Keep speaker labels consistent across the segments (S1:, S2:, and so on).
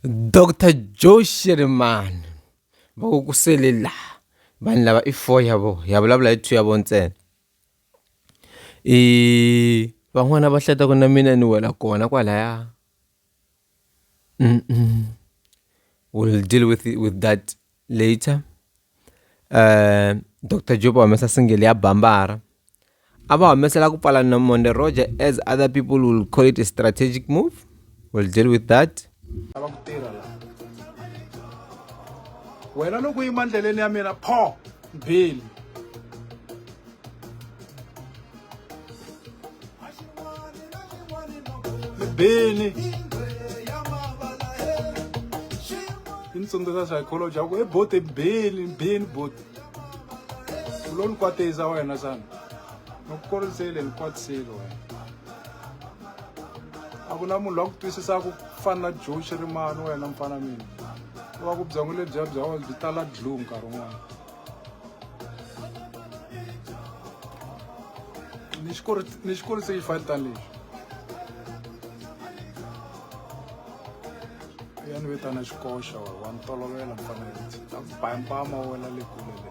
S1: Doctor Joe Shirimani va ku ku sele laha vanhu lava i four ya vona ya vulavula hi two ya vona ntsena i van'wana va hleta ku na mina ni wela kona kwalaya will deal with with that. Later, eh, Dr. Job va humesa single ya Bambara. A va humesela ku pfala na Monde Roger as other people will call it a strategic move. We'll deal with that. lava ku tirha
S2: la wena loko yima ndleleni ya mina pho mbheli beni i ni tsundzuxa psychology ya ku ebote beni beni bote u lo ni kwatisa wena xana ni ku korisele ni kwatisile wena a ku na munhu loyi a ku twisisaka ku fana na joe xirimani wena mfana mina u va ku byongo lebyiya bya wena byi tala dlu nkarhi wun'wana ni xi ni xi kurise yi fani tani lexi ya ni vitana xikoxa wa wa ni tolovela mfanelo ta ku baya mpama wena le kule le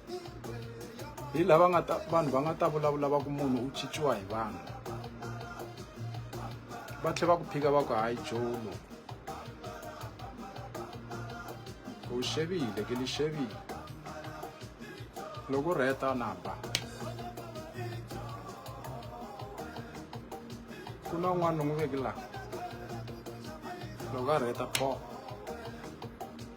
S2: hi lava nga ta vanhu va nga ta vulavula va ku munhu u chichiwa hi vanhu va tlhe va ku phika va ku hayi jolo u xevile ke li xevile loko rheta na ba ku na un'wana ni n'wi veki laha loko a rheta poo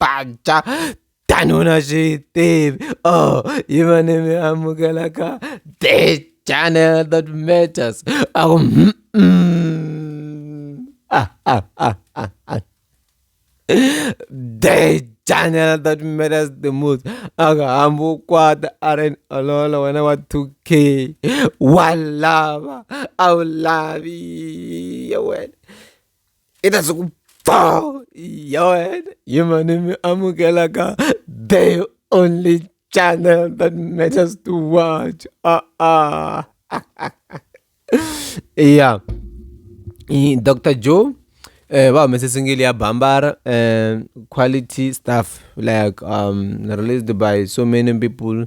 S1: panca tanuna xi yi tivi oh yi va ni mi amukelaka the channel that matters a ku ah, ah, ah, ah, ah. the channel that matters the most akahambi ukwata aren olola wena wa 2k walava a wu lavi wena i ta siku bo ya wena hi mani mi amukelaka the only channel that matters to watch ah ah yeah dr joe eh va humese singili ya bambara eh quality stuff like um released by so many people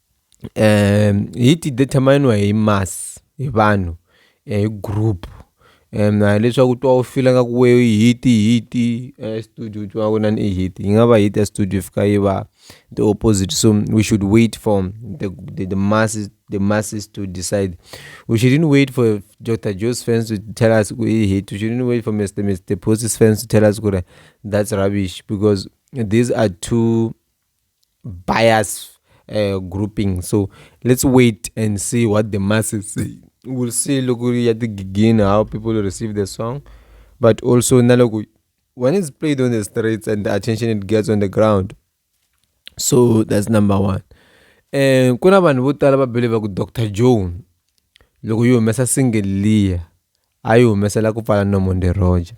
S1: hi ti determine-iwa hi mass hi vanhu hi group and hileswaku twa u fila nga ku we i hit i hit studio u twa ku inana i hit yi nga va hit ya studio yi fika yi va the opposite so we should wait for the the the masses the masses to decide we shouldn't wait for Doctor Joe's fans to tell us ku i hit we shouldn't wait for Mr Mr Posi's fans to tell us ku ri that's rubbish because these are two bias uh grouping so let's wait and see what the masses say will see loko ri ya tigigini how people receive the song but also na loko when it's played on the streets and the attention it gets on the ground so that's number one um ku na vanhu vo tala va believer ku dr joe loko yi humesa single liya a yi humesela ku pfala nomonde roger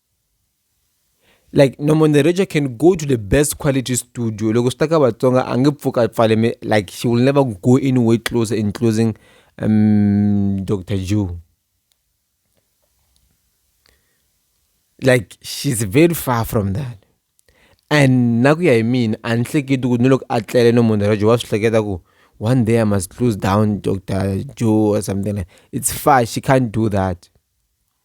S1: like Norman the Ranger can go to the best quality studio loko swi ta ka Vatsonga a nge pfuka pfale me like she will never go anywhere closer in closing um, Dr. Jew like she's very far from that and na ku ya hi mina a ni hleketi ku ni loko a tlele no munhu rajo wa swi hleketa ku one day i must close down dr joe or something like it's far she can't do that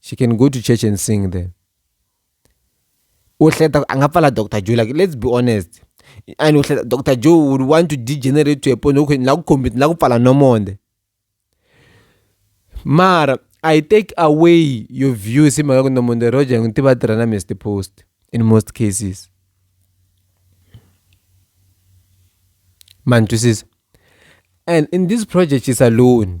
S1: she can go to church and sing there uhleta a nga pfala dr joe like let's be honest and uhleta dr joe would want to degenerate to a point okay ni la ku khombisa ni la ku pfala nomonde mara i take away your views hi mhaka ku nomonde roger ngi tiva tirha na mr post in most cases man twisisa and in this project is alone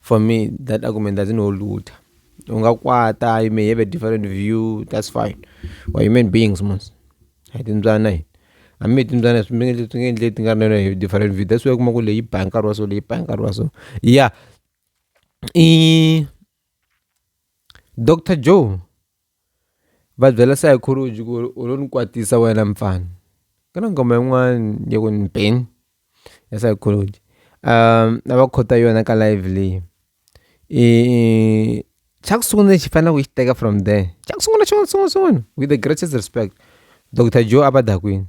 S1: For me that argument doesn't hold water. Ungakwata, you may have a different view, that's fine. We're human beings, mos. Hi timbyana hi. Hambi hi timbyana swi nge swi nge endle ti nga ri na hi different view. That's why kuma ku leyi yi ba nkarhi wa so leyi ba nkarhi wa so. Yeah. I Dr. Joe Va byela sayikholoji ku ri u lo ni kwatisa wena mfana ku na nghoma yin'wani ya ku ni ben ya sayikholoji a va khota yona ka live leyi i xa ku sungula lexi hi faneleke hi xi teka from there xa ku sungula xin'wana xin'wana xin'wana with the greatest respect doctor joe a va dakwini.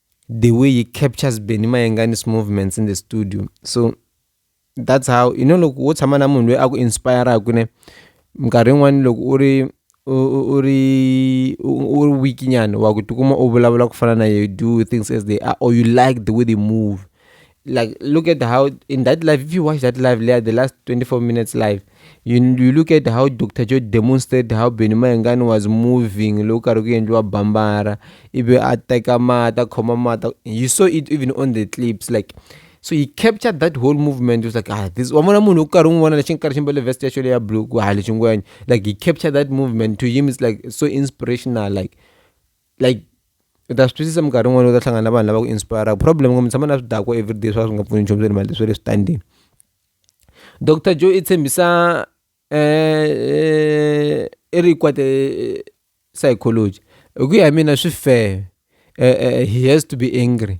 S1: the way he captures Benny Mayengani's movements in the studio so that's how you know loko wo tshama na munhu loyi a ku inspiraka ne minkarhi yin'wani loko u ri u ri u ri weak nyana wa ku tikuma u vulavula ku fana na you do things as they are or you like the way they move like look at how in that live if you watch that live later the last 24 minutes live you, you look at how dr joe demonstrated how benny mayengani was moving loko karhi ku endliwa bambara ivi a teka mata khoma mata you saw it even on the clips like so he captured that whole movement was like ah this wa vona munhu u karhi n'wi vona lexi nkarhi xi mbale vest ya xo leya blue ku ha lexi ngwenya like he captured that movement to him is like so inspirational like like u ta swi twisisa minkarhi yin'wana u ta hlangana na vanhu lava ku inspiraka problem ngombe tshama na swi dakwa everyday swa swi nga pfuni nchumu swa le mali swa le switandini dr joe i tshembisa um i ri kwate psychology hi ku ya hi mina swi fair um he has to be angry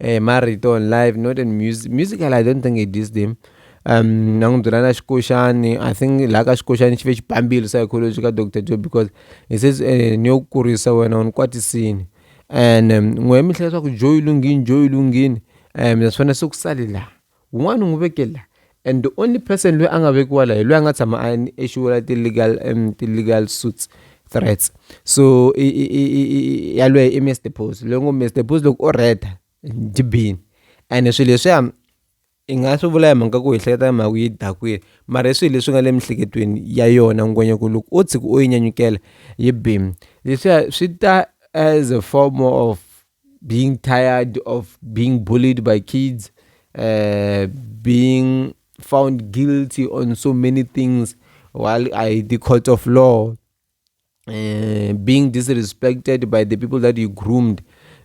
S1: eh, marito on live not in music musical i don't think i dis them um na n'wi byela na xikoxani i think laha ka xikoxani xi ve xi bambile psychology ka dr joe because he says eh, ni yo kurisa wena u ni kwatisini and um, n'we mihla leswaku joe yi lunghini joe yi lunghini um naswona se ku sale laha Wun'wana u n'wi veke la and the only person loyi a nga vekiwa la hi loyi a nga tshama a issuela ti-legal um ti-legal suits threats so i i i i i yalweyo i Mister Boss loyi ngo Mister Boss loko o red njhibini ene swilo leswiya i nga swi vula hi mhaka ku hi hleketa hi mhaka ku yi dakwile mara i swilo leswi nga le miehleketweni ya yona ngwenya ku loko o tshuka o yi nyanyukela yi bim leswiya swi ta as a form of. being tired of being bullied by kids, uh, being found guilty on so many things while I the court of law, uh, being disrespected by the people that you groomed.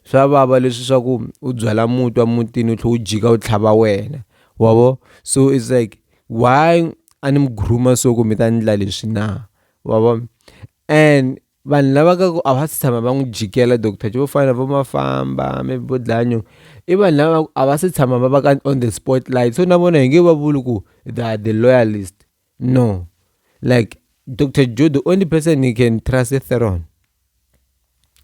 S1: swa vava leswi swa ku u byala mutwa mutini u tlhe u jika u tlhava wena wavo so it's like why a ni mi groomer so ku mi ta ndla leswi na wavo and Vanhu lava ka ku a va si tshama va n'wi jikela doctor vo fana na vo Mafamba maybe vo Dlaya Nyong'o i vanhu lava va ku a va si tshama va va ka on the spotlight so na vona hi nge va vuli ku they are the loyalist no like doctor Joe the only person he can trust i Theron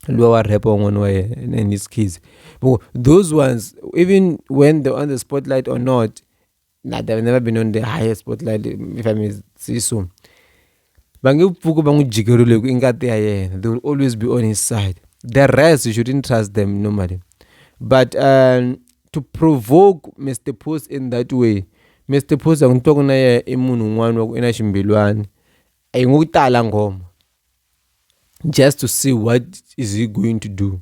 S1: luya wa rap wa n'wana wa yena and his kids those ones even when they on the spotlight or not. Nah, they've never been on the highest spotlight if I may say so. Va nge pfuki va n'wi jikerile ku i ngati ya yena. They will always be on his side. The rest you shouldn't trust them normally. But um, to provoke Mr. Post in that way, Mr. Post a n'wi twa ku na yena i munhu un'wana wa ku i na ximbilwani. A yi n'wi tala nghoma. Just to see what is he going to do.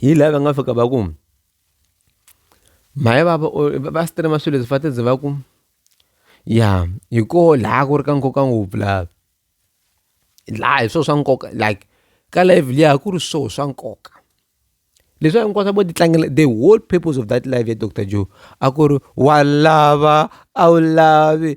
S1: hi laha va nga fika va ku mhani vava va stream-a swilo leswi va ta ze va ku ya hi koho laha ku ri ka nkoka ngopfu laha laha hi swona swa nkoka like ka live liya ku ri swona swa nkoka leswi hinkwaswo vo ti tlangela the whole purpose of that live ya doctor Joe a ku ri wa lava a wu lavi.